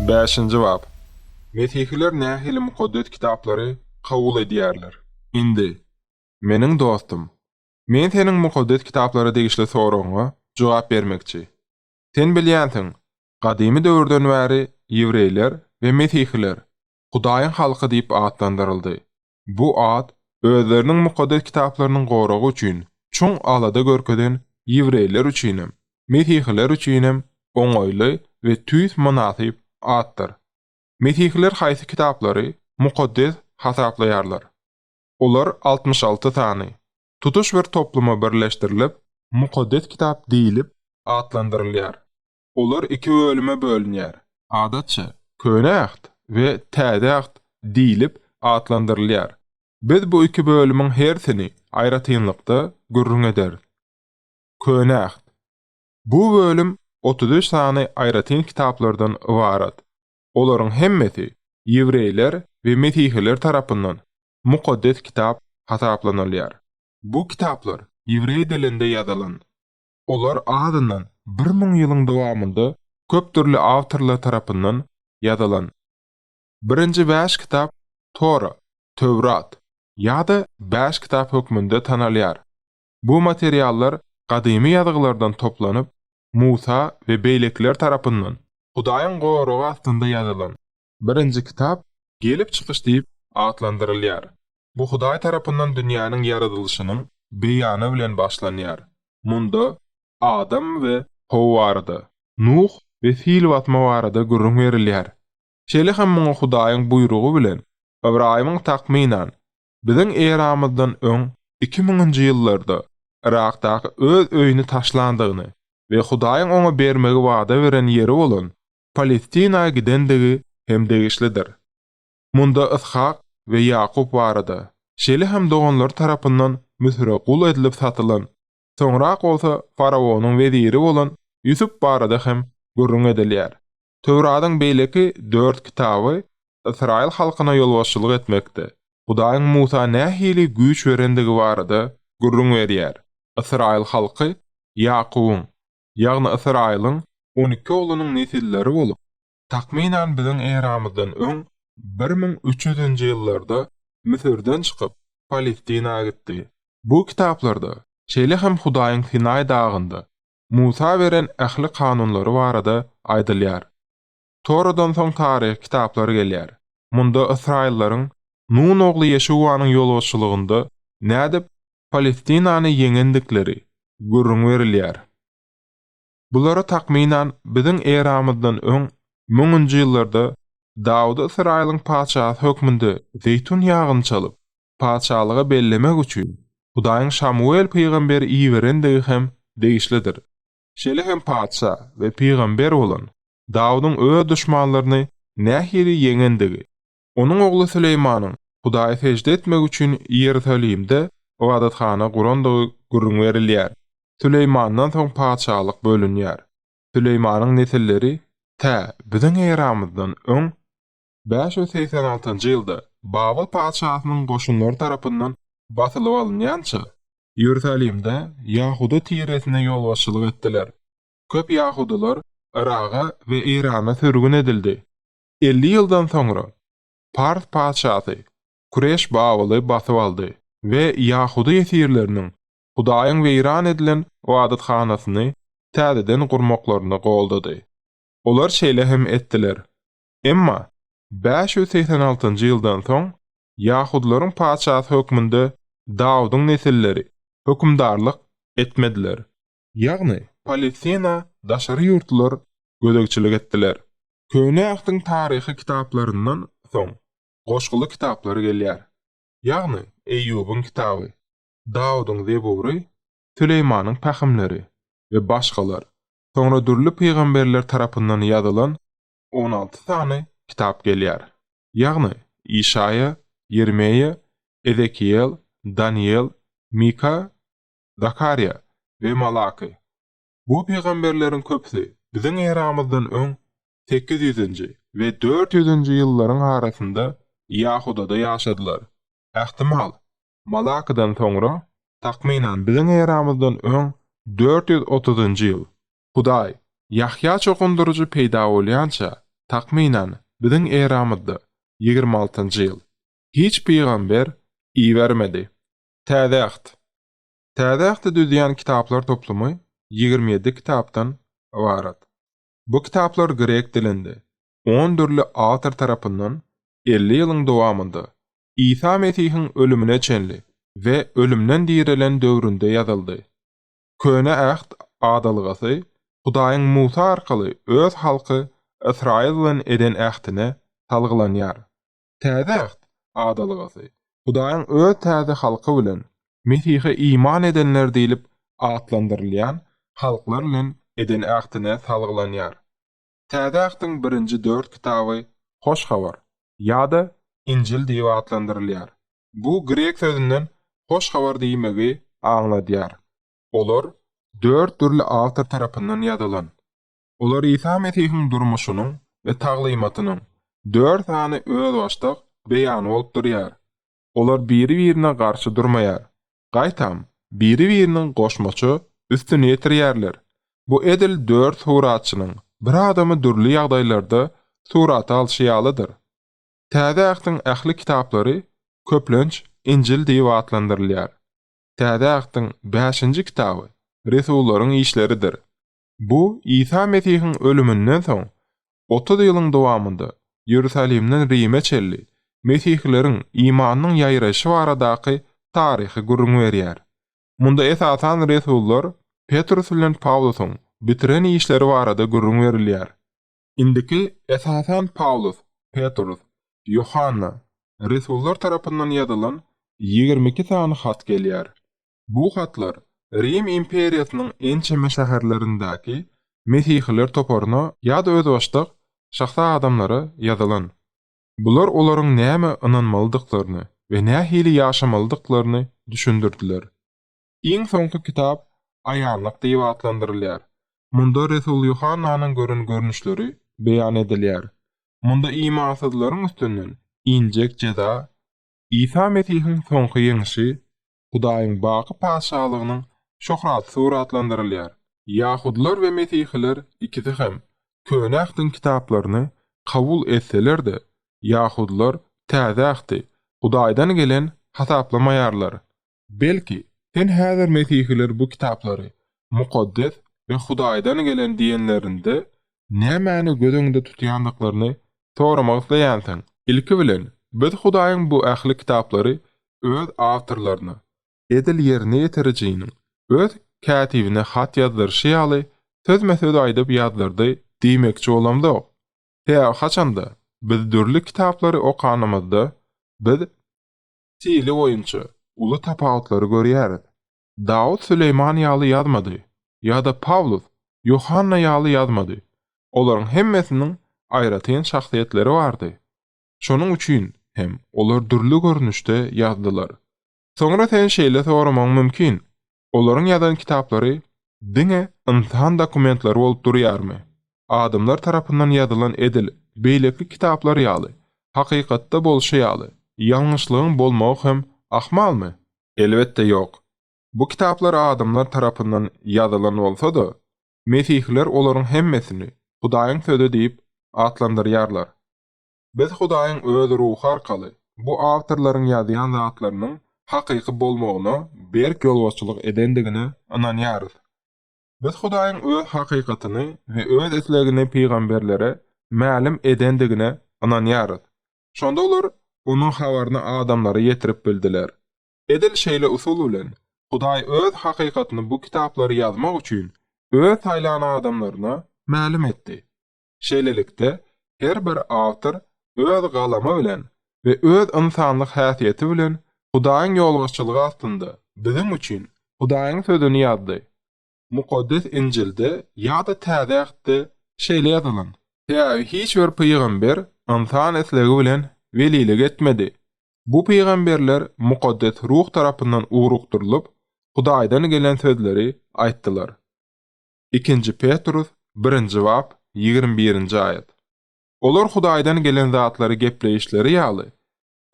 Bäşinji bap. Mesihiler nähili Mukaddes Kitaplary kabul edýärler? Indi, meniň dostum, men seniň Mukaddes Kitaplara degişli soragyňa jogap bermekçi. Sen bilýänsiň, gadymy döwürden bäri ýewreýler we mesihiler Hudaýyň halky diýip atlandyryldy. Bu at özleriniň Mukaddes Kitaplarynyň goragy üçin çuň alada görkezen ýewreýler üçinem, mesihiler üçinem oňaýly we tüýs mynasyp atdyr. Mesihiler haýsy kitaplary mukaddes hasaplaýarlar? Olar altmyş alty sany, tutuş bir topluma birleşdirilip, Mukaddes Kitap diýlip atlandyrylýar. Olar iki bölüme bölünýär. Adatça, Köne Äht we Täze Äht diýlip atlandyrylýar. Biz bu iki bölümiň hersini aýratynlykda gürrüň ederis. Köne Äht. Bu bölüm otuz üç sany aýratyn kitaplardan ybarat. Olaryň hemmesi ýewreýler we mesihiler tarapyndan Mukaddes Kitap hasaplanylýar. Bu kitaplar ýewreý dilinde ýazylan. Olar azyndan bir müň ýylyň dowamynda köp dürli awtorlar tarapyndan ýazylan. Birinji bäş kitap Tora, Töwrat, ýa-da Bäş kitap hökmünde tanalýar. Bu materiallar gadymy ýazgylardan toplanyp, Musa we beýlekiler tarapyndan, Hudaýyň goragy astynda ýazylan, Birinji kitap. Gelip çykyş diýip atlandyrylýar. Bu Hudaý tarapyndan dünýäniň ýaradylyşynyň beýany bilen başlanýar. Munda Adam we How barada, Nuh we sil basma barada gürrüň berilýär. Şeýle hem muňa Hudaýyň buýrugy bilen Ybraýymyň takmynan, biziň eramyzdan öň iki müňünji ýyllarda Yrakdaky öz öýüni taşlandygyny we Hudaýyň oňa bermegi wada beren ýeri bolan Palestina gidendigi hem degişlidir. Munda Yshak we Ýakup barada, şeýle hem doganlary tarapyndan Müsüre gul edilip satylan, soňrak bolsa faraonyň weziri bolan Ýusup barada hem gürrüň edilýär. Töwradyň beýleki dört kitaby ysraýyl halkyna ýolbaşçylyk etmekde Hudaýyň Musa nähili güýç berendigi barada gürrüň berýär, ysraýyl halky Ýakubyň, ýagny Ysraýylyň on iki oglunyň nesilleri bolup, takmynan biziň eramyzdan öň bir müň üç ýüzünji ýyllarda Müsürden çykyp, Palestina gitdi. Bu kitaplarda, şeýle hem Hudaýyň Sinaý dagynda Musa beren ähli kanunlary barada aýdylýar. Toradan soň taryhy kitaplar gelýär. Munda ysraýyllaryň Nun ogly Ýeşuwanyň ýolbaşçylygynda nädip Palestinany ýeňendikleri gürrüň berilýär. Bulary takmynan biziň eramyzdan öň müňünji ýyllarda Dawudy Ysraýylyň patyşasy hökmünde zeýtun ýagyny çalyp, patyşalyga bellemek üçin Hudaýyň Şamuwel pygamberi iberendigi hem degişlidir. Şeýle hem patyşa we pygamber bolan Dawudyň öz duşmanlaryny nähili ýeňendigi, onuň ogly Süleýmanyň Hudaýa sežde etmek üçin Iýerusalimde ybadathana gurandygy gürrüň berilýär. Süleýmandan soň patyşalyk bölünýär. Süleýmanyň nesilleri tä biziň eramyzdan öň, bäş ýüz segsen altynjy ýylda Babyl patyşasynyň goşunlary tarapyndan basylyp alynýança, Iýerusalimde ýahuda tiresine ýolbaşçylyk etdiler. Köp ýahudylar Yraga we Eýrana sürgün edildi. Elli ýyldan soňra, Pars patyşasy Kureş Babyly basyp aldy we ýahudy ýesirleriniň Hudaýyň weýran edilen ybadathanasyny täzeden gurmaklaryny goldady. Olar şeýle hem etdiler. Emma bäş ýüz segsen altynjy ýyldan soň, ýahudylaryň patyşasy hökmünde Dawudyň nesilleri hökümdarlyk etmediler. ýagny, Palestina daşary ýurtlular gözegçilik etdiler. Köne Ähtiň taryhy kitaplaryndan soň goşguly kitaplar gelýär. Ýagny, Eýýubyň kitaby, Dawudyň Zebury, Süleýmanyň Pähimleri we başgalar, soňra dürli pygamberler tarapyndan ýazylan on alty sany kitap gelýär. Ýagny, Işaýa, Ýermeýa, Ezekiýel, Danyýel, Mika Zakarýa we Malaky. Bu pygamberleriň köpüsi biziň eramyzdan öň sekiz ýüzünji we dört ýüzünji ýyllaryň arasynda Ýahudada ýaşadylar. Ähtimal, Malakydan soňra, takmynan biziň eramyzdan öň dört ýüz otuzynjy ýyl, Hudaý, Ýahýa çokundyryjy peýda bolýança, takmynan biziň eramyzda ýigrimi altynjy ýyl, hiç pygamber ibermedi. Täze Äht. Täze Ähti düzýän kitaplar toplumy ýigrimi ýedi kitapdan ybarat. Bu kitaplar grek dilinde, on dürli awtor tarapyndan elli ýylyň dowamynda, Isa Mesihiň ölümine çenli we ölümden direlen döwründe ýazyldy. Köne Äht adalgasy Hudaýyň Musa arkaly öz halky Ysraýyl bilen eden ähtine salgylanýar. Täze Äht adalgasy Hudaýyň Öz täze halky bilen, Mesihe iman edenler diýlip atlandyrylýan halklar bilen eden ähtine salgylanýar. Täze Ähtiň birinji dört kitaby Hoş Habar ýa-da Injil diýip atlandyrylýar. Bu grek sözünden hoş habar diýmegi aňladýar. Olar dört dürli awtor tarapyndan ýazylan. Olar Isa Mesihiň durmuşynyň we taglymatynyň dört sany özbaşdak beýany bolup durýar. Olar biri-birine garşy durmaýar, gaýtam, biri-biriniň goşmaça üstüni ýetirýärler. Bu edil dört suratçynyň bir adamy dürli ýagdaýlarda surata alşy ýalydyr. Täze Ähtiň ähli kitaplary köplenç Injil diýip atlandyrylýar. Täze Ähtiň bäşinji kitaby Resullaryň işleridir. Bu Isa Mesihiň ölüminden soň, otuz ýylyň dowamynda Ýerusalimden Rime çenli mesihileriň imanynyň ýaýraýşy baradaky taryhy gürrüň berýär. Munda esasan resullar Petrus bilen Pawlusyň bitiren işleri barada gürrüň berilýär. Indiki esasan Pawlus, Petrus, Ýohanna, resullar tarapyndan ýazylan ýigrimi iki sany hat gelýär. Bu hatlar Rim imperiýasynyň ençeme şäherlerindäki Mesihiler toparyna ýa-da özbaşdak şahsy adamlara ýazylan. Bular olaryň nämä ynanmalydyklaryny we nähili ýaşamalydyklaryny düşündirdiler. Iň soňky kitap Aýanlyk diýip atlandyrylýar. Munda resul Ýuhannanyň gören görnüşleri beýan edilýär. Munda imansyzlaryň üstünden injek jeza, Isa Mesihiň soňky ýeňşi, Hudaýyň baky Patyşalygynyň şöhraty suratlandyrylýar. Ýahudylar we mesihiler ikisi hem Köne Ähtiň kitaplaryny kabul etseler-de, ýahudylar Täze Ähti Hudaýdan gelen hasaplamaýarlar. Belki, sen häzir mesihiler bu kitaplary mukaddes we Hudaýdan gelen diýenlerinde, Nämäni göz öňünde tutýandyklaryny soramak isleýänsiň? Ilki bilen, biz Hudaýyň bu ähli kitaplary öz awtorlaryna, edil ýerine ýetirijiniň öz kätibine hat ýazdyryşy ýaly, sözme-söz aýdyp ýazdyrdy diýmekçi bolamzok. Tä haçanda, biz dürli kitaplary okanymyzda, biz stili boýunça uly tapawutlary görýäris. Dawut Süleýman ýaly ýazmady, ýa-da Pawlus Ýohanna ýaly ýazmady. Olaryň hemmesiniň aýratyn şahsyýetleri bardy. Şonuň üçin hem olar dürli görnüşde ýazdylar. Soňra sen şeýle soramagyň mümkin, Olaryň ýazan kitaplary diňe ynsan dokumentleri bolup durýarmy? Adamlar tarapyndan ýazylan edil beýleki kitaplar ýaly, hakykatda bolşy ýaly, ýalňyşlygyň bolmagy hem ahmalmy? Elbetde ýok. Bu kitaplar adamlar tarapyndan ýazylan bolsa-da, Mesihiler olaryň hemmesini Hudaýyň Sözi diýip atlandyrýarlar. Biz Hudaýyň Öz Ruhy arkaly bu awtorlaryň ýazýan zatlarynyň hakyky bolmagyna berk ýolbaşçylyk edendigine ynanýarys. Biz Hudaýyň Öz hakykatyny we Öz islegini pygamberlere mälim edendigine ynanýarys. Şonda olar onuň habaryny adamlara ýetirip bildiler. Edil şeýle usul bilen, Hudaý Öz hakykatyny bu kitaplary ýazmak üçin Öz saýlan adamlaryna mälim etdi. Şeýlelikde, her bir awtor öz galamy bilen we öz ynsanlyk häsiýeti bilen Hudaýyň ýolbaşçylygy astynda biziň üçin Hudaýyň Sözüni ýazdy. Mukaddes Injilde ýa-da Täze Ähtde şeýle ýazylan, Täbi hiç bir pygamber ynsan islegi bilen welilik etmedi. Bu pygamberler Mukaddes Ruh tarapyndan ugrukdyrylyp, Hudaýdan gelen sözleri aýtdylar. Ikinji Petrus birinji bap, ýigrimi birinji aýat. Olar Hudaýdan gelen zatlary gepleýişleri ýaly,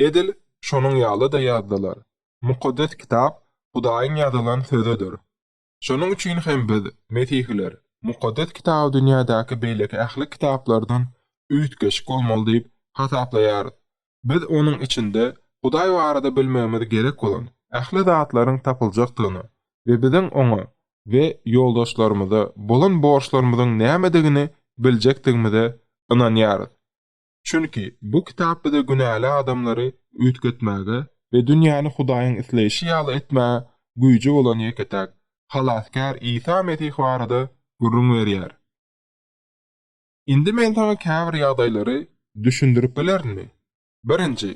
edil şonuň ýaly-da ýazdylar. Mukaddes Kitap Hudaýyň ýazylan Sözüdir. Şonuň üçin hem biz, Mesihiler, Mukaddes Kitaby dünýädäki beýleki ähli kitaplardan üýtgeşik bolmaly diýip hasaplaýarys. Biz onuň içinde Hudaý barada bilmegimiz gerek bolan ähli zatlaryň tapyljakdygyny we biziň oňa we ýoldaşlarymyza bolan borçlarymyzyň nämedigini biljekdigimize ynanýarys. Çünki bu kitap bize günäli adamlary üýtgetmäge we dünýäni Hudaýyň isleýşi ýaly etmäge güýji bolan ýeke-täk Halasgär Isa Mesih barada gürrüň berýär. Indi men saňa käbir ýagdaýlary düşündirip bilerinmi? Birinji.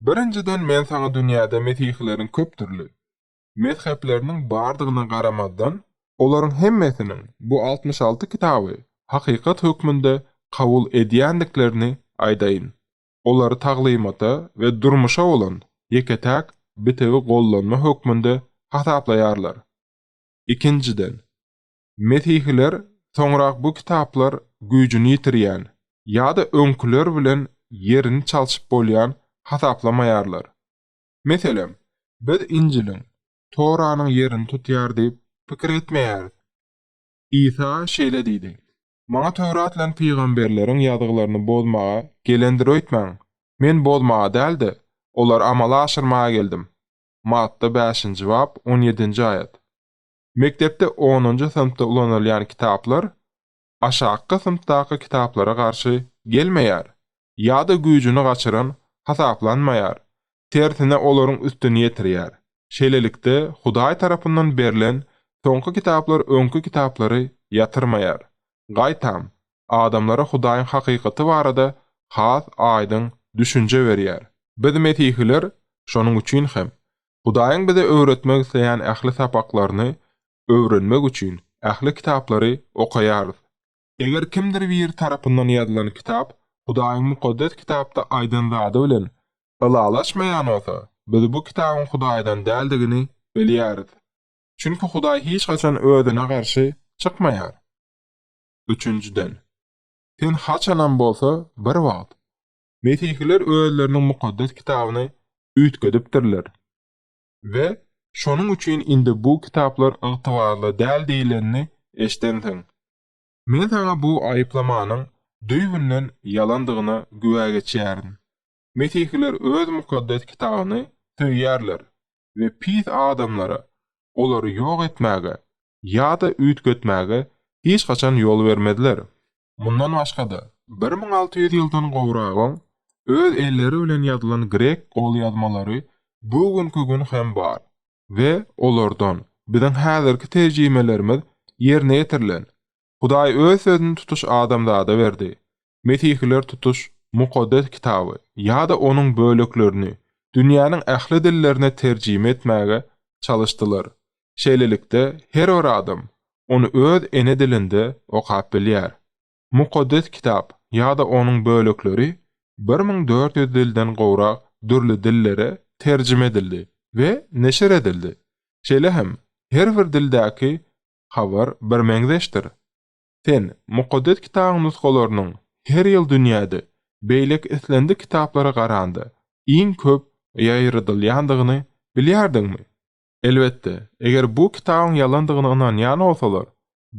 Birinjiden men saňa dünýäde mesihileriň köpdürli, mezhepleriniň bardygyna garamazdan, olaryň hemmesiniň bu altmyş alty kitaby hakykat hökmünde kabul edýändiklerini aýdaýyn. Olary taglymata we durmuşa bolan ýeke-täk bitewi gollanma hökmünde hasaplaýarlar. Ikinjiden, mesihiler soňrak bu kitaplar güýjüni ýitirýän ýa-da öňküler bilen ýerini çalşyp bolýan hasaplamaýarlar. Meselem, biz Injiliň, Toranyň ýerini tutýar diýip pikir etmeýäris. Isa şeýle diýdi, Maňa Töwrat bilen pygamberleriň ýazgylaryny bozmaga gelendir öýtmäň. Men bozmaga däl-de, olary amala aşyrmaga geldim. Matta bäşinji bap, on ýedinji aýat. Mekdepde onunjy synpda ulanylýan kitaplar aşakky synpdaky kitaplara garşy gelmeýär ýa-da güýjüni gaçyran hasaplanmaýar, tersine olaryň üstüni ýetirýär. Şeýlelikde, Hudaý tarapyndan berlen soňky kitaplar öňki kitaplary ýatyrmaýar. Gaýtam, adamlara Hudaýyň hakykaty barada has aýdyň düşünje berýär. Biz mesihiler şonuň üçin hem, Hudaýyň bize öwretmek isleýän ähli sapaklaryny öwrenmek üçin ähli kitaplary okaýarys. Eger kimdir biri tarapyndan ýazylan kitap Hudaýyň Mukaddes Kitapda aýdan zady bilen ylalaşmaýan bolsa, biz bu kitabyň Hudaýdan däldigini bilýäris. Çünki Hudaý hiç haçan Özüne garşy çykmaýar. Üçünjiden, sen haçanam bolsa bir wagt. Mesihiler özleriniň Mukaddes Kitabyny üýtgedipdirler. we şonuň üçin indi bu kitaplar ygtybarly däl diýlenini eşidensiň. Men saňa bu aýyplamanyň düýbünden ýalandygyna güwä geçýärin. Mesihiler öz Mukaddes Kitabyny söýýärler we pis adamlara olary ýok etmäge ýa-da üýtgetmäge hiç haçan ýol bermezler. Mundan başga-da, bir müň alty ýüz ýyldan gowrak öň öz elleri bilen ýazylan grek golýazmalary bu günki gün hem bar we olardan biziň häzirki terjimelerimiz ýerine ýetirilen. Hudaý Öz Sözüni tutuş adamzada berdi. Mesihiler tutuş Mukaddes Kitaby ýa-da onuň böleklerini dünýäniň ähli dillerine terjime etmäge çalyşdylar. Şeýlelikde, her bir adam ony öz ene dilinde okap bilýär. Mukaddes Kitap ýa-da onuň bölekleri bir müň dört ýüz dilden gowrak dürli dillere terjime edildi we neşir edildi. Şeýle hem, her bir dildäki habar birmeňzeşdir. Sen Mukaddes Kitabyň nusgalarynyň her ýyl dünýäde beýleki islendik kitaplara garanda iň köp ýaýradylýandygyny bilýärdiňmi? Elbetde, eger bu kitabyň ýalandygyna ynanýan bolsalar,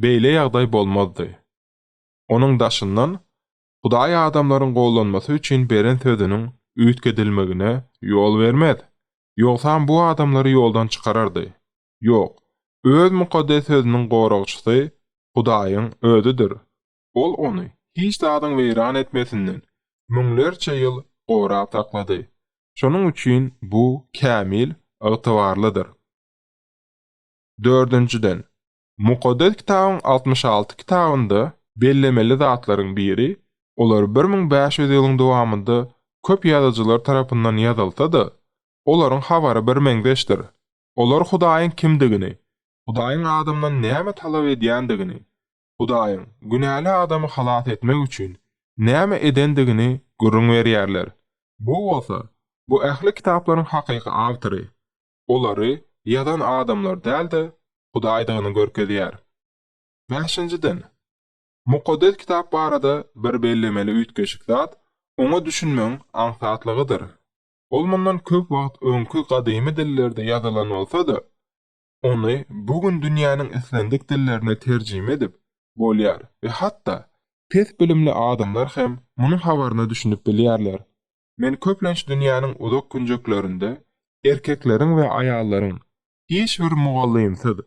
beýle ýagdaý bolmazdy. Onuň daşyndan, Hudaý adamlaryň gollanmasy üçin beren sözüniň üýtgedilmegine ýol bermez, ýogsam bu adamlary ýoldan çykarardy. Ýok, Öz mukaddes Sözüniň goragçysy Hudaýyň Özüdir. Ol ony hiç zadyň weýran etmesinden müňlerçe ýyl gorap saklady. Şonuň üçin bu kämil, ygtybarlydyr. Dördünjiden, Mukaddes Kitabyň altmyş alty kitabynda bellemeli zatlaryň biri, olar bir müň bäş ýüz ýylyň dowamynda köp ýazyjylar tarapyndan ýazylsa-da, olaryň habary birmeňzeşdir. Olar Hudaýyň kimdigini, Hudaýyň adamdan näme talap edýändigini, Hudaýyň günäli adamy halas etmek üçin näme edendigini gürrüň berýärler. Bu bolsa, bu ähli kitaplaryň hakyky awtory, olary ýazan adamlar däl-de, Hudaýdygyny görkezýär. Bäşinjiden, Mukaddes Kitap barada bir bellemeli üýtgeşik zat oňa düşünmegiň aňsatlygydyr. Ol mundan köp wagt öňki gadymy dillerde ýazylan bolsa-da, Ony bu gün dünýäniň islendik dillerine terjime edip bolýar we hatda pes bilimli adamlar hem munuň habaryna düşünip bilýärler. Men köplenç dünýäniň uzak künjeklerinde erkekleriň we aýallaryň hiç bir mugallymsyz,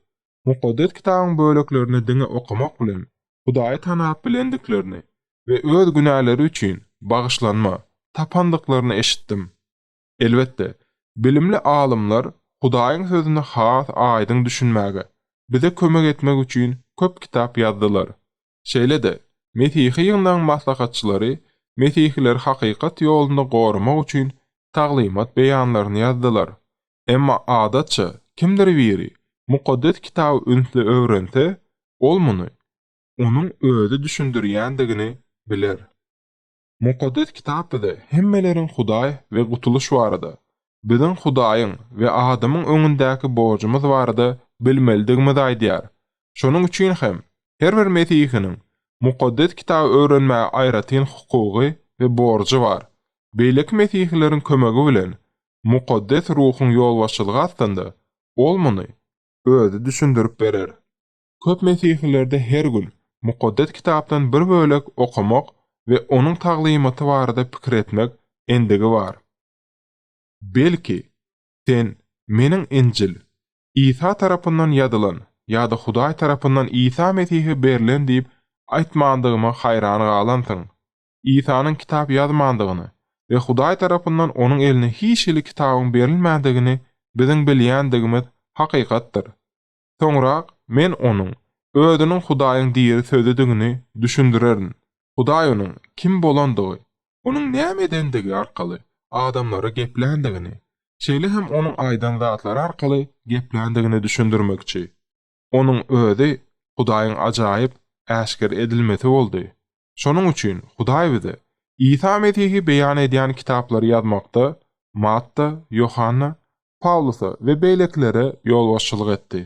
Mukaddes Kitabyň böleklerini diňe okamak bilen Hudaýy tanap bilendiklerini we öz günäleri üçin bagyşlanma tapandyklaryny eşitdim. Elbetde, bilimli alymlar Hudaýyň Sözüne has aýdyň düşünmäge bize kömek etmek üçin köp kitap ýazdylar. Şeýle-de, Mesihi ýygnagyň maslahatçylary mesihileri hakykat ýolunda goramak üçin taglymat beýanlaryny ýazdylar. Emma, adatça, kimdir biri Mukaddes Kitaby ünsli öwrense, ol muny onuň özi düşündirýändigini biler. Mukaddes Kitap bize hemmeleriň Hudaý we gutulyş barada, biziň Hudaýyň we adamyň öňündäki borjumyz barada bilmelidigimizi aýdýar. Şonuň üçin hem, her bir mesihiniň Mukaddes Kitaby öwrenmäge aýratyn hukugy we borjy bar. Beýleki mesihileriň kömegi bilen, mukaddes ruhuň ýolbaşçylygy astynda, ol muny özi düşündirip berer. Köp mesihilerde her gün Mukaddes Kitapdan bir bölek okamak we onuň taglymaty barada pikir etmek endigi bar. Belki, sen Meniň Injil, Isa tarapyndan ýazylan ýa-da Hudaý tarapyndan Isa Mesihe berlen diýip aýtmandygyma haýran galansyň. Isanyň kitap ýazmandygyny we Hudaý tarapyndan onuň eline hiç hili kitabyň berilmändigini biziň bilýändigimiz hakykatdyr. Soňra Men onuň Özüniň Hudaýyň diri Sözüdigini düşündirerin. Hudaý onuň kim bolandygy, onuň näme edendigi arkaly adamlara gepländigini, şeýle hem onuň aýdan zatlary arkaly gepländigini düşündirmekçi. Onuň Özi Hudaýyň ajaýyp äşgere edilmesi boldy. Şonuň üçin Hudaý bize Isa Mesihi beýan edýän kitaplary ýazmakda Matta, Ýohanna, Pawlusa we beýlekilere ýolbaşçylyk etdi.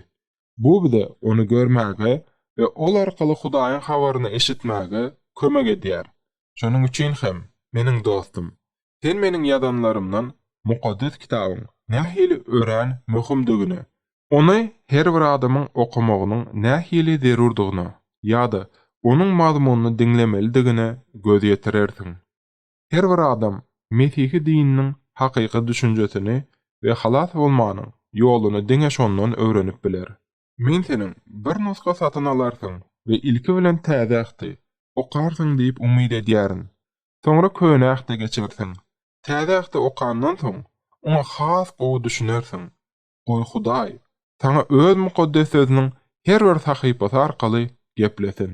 Bu bize Ony görmäge we Ol arkaly Hudaýyň habaryny eşitmäge kömek edýär. Şonuň üçin hem, meniň dostum, sen meniň ýazanlarymdan Mukaddes Kitabyň nähili örän möhümdigine Ony her bir adamyň okamagynyň nähili zerurdygyna ýa-da onuň mazmunyny diňlemelidigine göz ýetirersiň. Her bir adam Mesihi dininiň hakyky düşünjesini we halas bolmanyň ýoluny diňe şondan öwrenip biler. Men seniň bir nusga satyn alarsyň we ilki bilen Täze Ähti okarsyň diýip umyt edýärin. Soňra Köne Ähte geçersiň. Täze Ähti okandan soň, oňa has gowy düşünersiň. Goý Hudaý saňa Öz Mukaddes Sözüniň her bir sahypasy arkaly geplesin.